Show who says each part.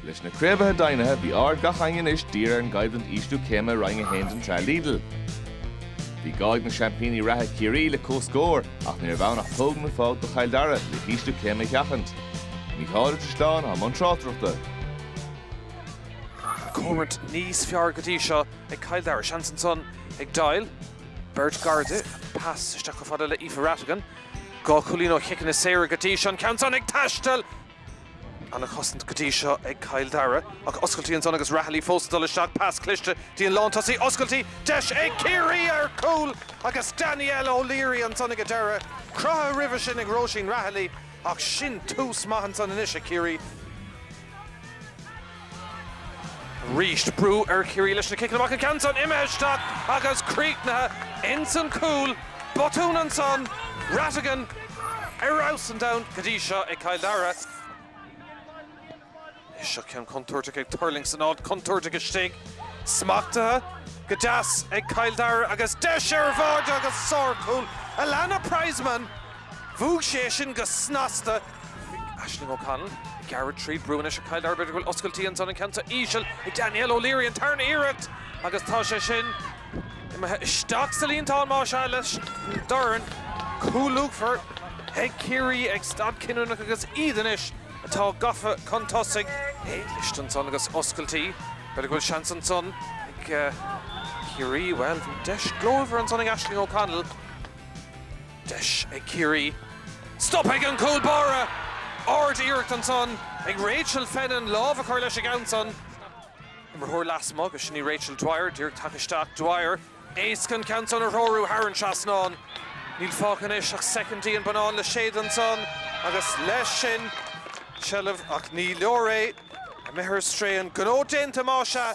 Speaker 1: Leis na craobhacha deimhnithe, bhí aird gach éinne anois dírithe ar an gcoimhlint ísliú céime i Roinn 1 den tsraith Lidl. Bhí gá ag na seaimpíní reatha Ciarraí le comhscór ach ní raibh ann ach bua nó bás do Chill Dara le hísliú céime a sheachaint. Mícheál Ó Drisleáin i mbun
Speaker 2: tráchtaireachta. Cothrom níos fearr go dtí seo ag Cill Dara. Seans ansan ag Doyle. Beirt gar di. Pas isteach chomh fada le Aoife Rattigan. Dhá chúilín ó chiceanna saora go dtí seo. An ceann san ag taisteal! Ana chosaint go dtí seo ag Cill Dara ach oscailtí ansan agus Rahilly fós ag dul isteach, pas cliste dtín lántosaí, oscailtí, deis ag Ciarraí ar chúl agus Danielle O'Leary ansan ag an deireadh, cruthú roimhe sin ag Róisín Rahilly ach sin tús maith ansan anois ag Ciarraí. arís. Brú ar Chiarraí leis na ciceanna amach, an ceann san imithe isteach agus críochnaithe insan cúl. Botún ansan. Rattigan, ar fheabhas an domhain go dtí seo ag Cill Dara. Anois seo ceann contúirteach ag tuirlingt san áit chontúirteach istigh. Smachtaithe go deas ag Cill Dara agus deis ar bháire agus sárcúl. Alannah Prizeman, bhuaigh sí é sin go snasta. Aisling O'Connell ag gearradh tríd brú anois ar Chill Dara b'fhéidir go bhfuil oscailtí ansan an ceann san íseal ag Danielle O'Leary an tarna iarracht agus tá sé sin imithe isteach sa líontán más ea leis an dorn. Cúl luachmhar ag Ciarraí ag staid chinniúnach agus iad anois atá gafa chun tosaigh. Cliste ansan agus oscailtí. B'fhéidir go bhfuil seans ansan ag Ciarraí. Bhuel bhí deis ghlórmhar ansan ag Aisling O'Connell. Deis ag Ciarraí stoptha ag an gcúl báire. Ard-iarracht ansan ag Rachel Fennin lámh a chur leis an ceann san, imreoir lasmuigh agus sin í Rachel Dwyer díreach tagtha isteach. Dwyer éasca an ceann san a threorú thar an trasnán. Níl fágtha anois ach soicindí, an bonnán le séideadh ansan agus leis sin seilbh ach ní leor é. Imithe ar strae, an gnó déanta más ea.